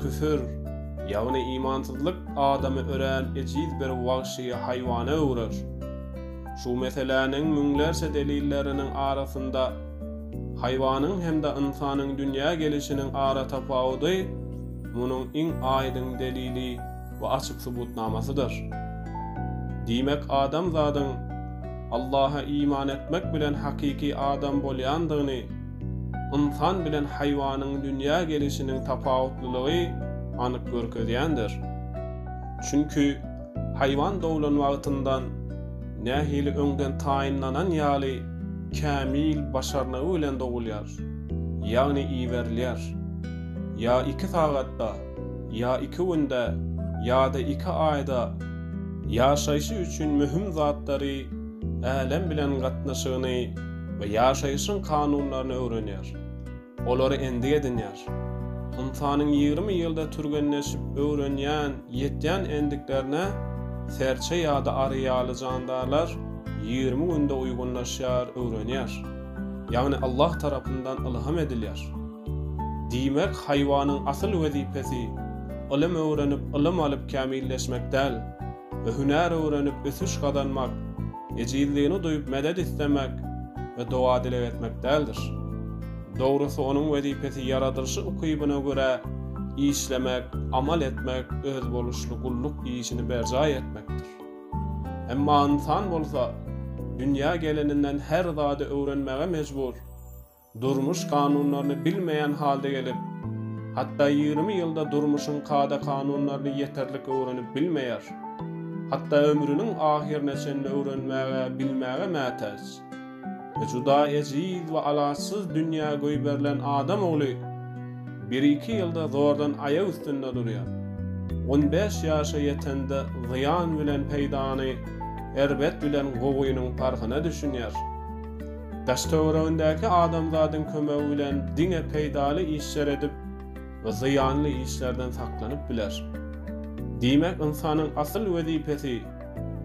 Küfür, ýagny imansyzlyk adamy örän ejiz bir wagşy haýwana öwrer. Şu meseläniň müňlerçe delilleriniň arasynda haýwanyň hem-de ynsanyň dünýä gelişiniň aratapawudy munuň iň aýdyň delili we açyk subutnamasydyr. Diýmek, adamzadyň Allaha iman etmek bilen hakyky adam bolýandygyny, ynsan bilen haýwanyň dünýä gelişiniň tapawutlylygy anyk görkezýändir. Çünki haýwan doglan wagtyndan nähili öňden taýynlanan ýaly kämil başarnygy bilen dogulýar, ýagny iberilýär. Ýa iki sagatda, ýa iki günde, ýa-da iki aýda. Ýaşaýşy üçin möhüm zatlary älem bilen gatnaşygyny we ýaşaýşyň kanunlaryny öwrenýär, olary endik edinýär. Ynsanyň ýigrimi ýylda türgenleşip öwrenýän, ýetýän endiklerine serçe ýa-da ary ýaly jandarlar ýigrimi günde uýgunlaşýar, öwrenýär. Ýagny Allah tarapyndan ylham edilýär. Diýmek, haýwanyň asyl wezipesi ylym öwrenip, ylym alyp kämilleşmek däl. we hünär öwrenip ösüş gazanmak, ejizligini duýup medet islemek we doga-dileg etmek däldir. Dogrusy onuň wezipesi ýaradylyşy ukybyna görä işlemek, amal etmek, özboluşly gulluk işini berjaý etmekdir. Emma ynsan bolsa dünýä geleninden her zady öwrenmäge mejbur. Durmuş kanunlaryny bilmeýän halda gelip, hatda ýigrimi ýylda durmuşyň kada-kanunlaryny ýeterlik öwrenip bilmeýär. Hatda ömrüniň ahyryna çenli öwrenmäge, bilmäge mätäç. We juda ejiz we alaçsyz dünýä goýberilen adam ogly bir-iki ýylda zordan aýak üstünde durýar. On bäş ýaşa ýetende zyýan bilen peýdany, erbet bilen gowynyň parhyna düşünýär. Daş-töweregindäki adamzadyň kömegi bilen diňe peýdaly işler edip, zyýanly işlerden saklanyp biler. Diýmek, ynsanyň asyl wezipesi,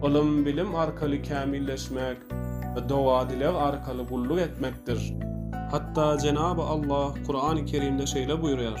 ylym-bilim arkaly kämilleşmek, doga-dileg arkaly gulluk etmekdir. Hatda Jenaby Allah Kurany Kerimde şeýle buýurýar,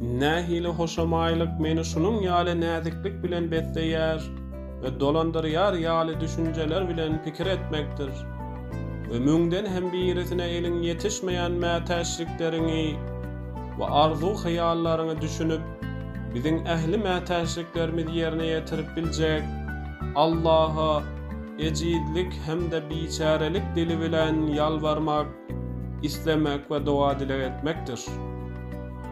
Nähili hoşamaýlyk meni şunuň ýaly näziklik bilen besleýär we dolandyrýar ýaly düşünjeler bilen pikir etmekdir. We müňden hem birisine eliň ýetişmeýän mätäçlikleriňi we arzuw-hyýallaryňy düşünip, biziň ähli mätäçliklerimiz ýerine ýetirip biljek Allaha ejizlik hem-de biçärelik dili bilen ýalbarmak, islemek we doga-dileg etmekdir.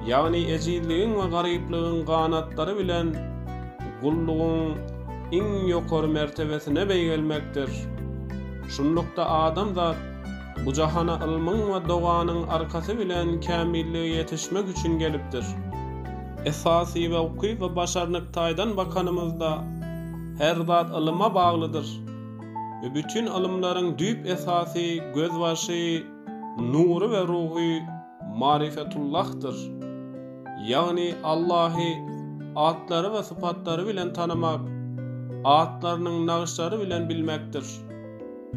Ýagny ejizligiň we garyplygyň ganatlary bilen gullugyň iň ýokary mertebesine beýgelmekdir. Şunlukda adamzat bu jahana ylmyň we doganyň arkasy bilen kämillige ýetişmek üçin gelipdir. Esasy we ukyp we başarnyk taýdan bakanymyzda her zat ylyma baglydyr we bütin ylymlaryň düýp esasy gözbaşy nury we ruhy Marifetullahdyr. Ýagny Allahy atlary we sypatlary bilen tanamak, atlarynyň nagyşlary bilen bilmekdir.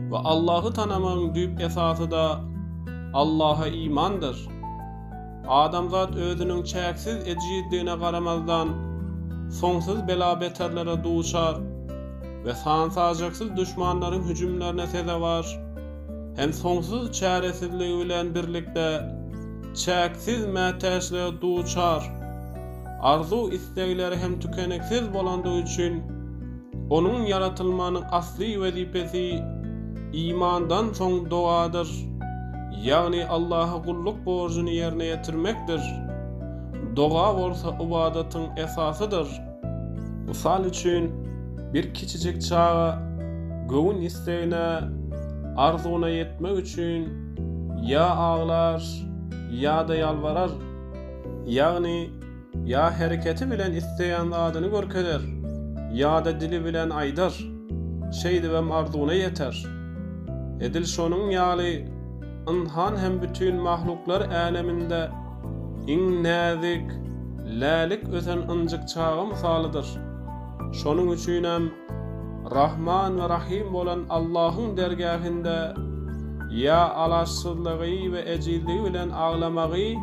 We Allahy tanamagyň düýp esasy-da Allaha imandyr. Adamzat özüniň çäksiz ejizdigine garamazdan, soňsuz bela-beterlere duçar we san-sajaksyz duşmanlaryň hüjümlerine sezewar. hem soňsuz çäresizligi bilen birlikde çäksiz mätäçlige duçar. Arzuw-islegleri hem tükeniksiz bolandygy üçin, onuň ýaratylmanyň asly wezipesi imandan soň dogadyr, ýagny Allaha gulluk borjuny ýerine ýetirmekdir. Doga bolsa ybadatyň esasydyr. Mysal üçin, bir kiçijik çaga göwün islegine, arzuwyna ýetmek üçin ýa aglar, ýa-da ýalbarar. Ýagny, ýa hereketi bilen isleýän zadyny görkezer, ýa-da dili bilen aýdar, şeýdibem arzuwyna ýeter. Edil şonuň ýaly, ynsan hem bütin mahluklar äleminde, Iň näzik, lälik ösen ynjyk çaga mysalydyr. Şonuň üçinem Rahman we Rahym bolan Allahyň dergähinde ýa alaçsyzlygy we ejizligi bilen aglamagy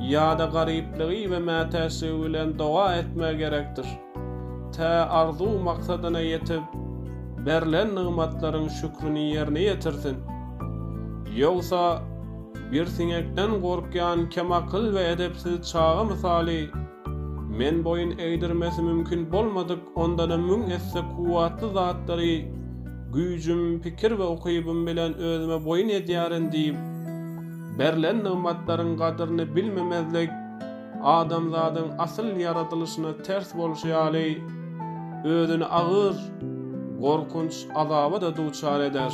ýa-da garyplygy we mätäçligi bilen doga etmegi gerekdir. Tä arzuw-maksadyna ýetip, berlen nygmatlaryň şükrini ýerine ýetirsin. Ýogsa, bir siňekden gorkýan kemakyl we edepsiz çaga mysaly, Men boýun egdirmesi mümkin bolmadyk ondan-a müň esse kuwwatly zatlary güýjüm, pikir we ukybym bilen özüme boýun edýärin diýip, berlen nygmatlaryň gadyryny bilmemezlik, adamzadyň asyl ýaradylyşyna ters bolşy ýaly, özüni agyr, gorkunç azaba-da duçar eder.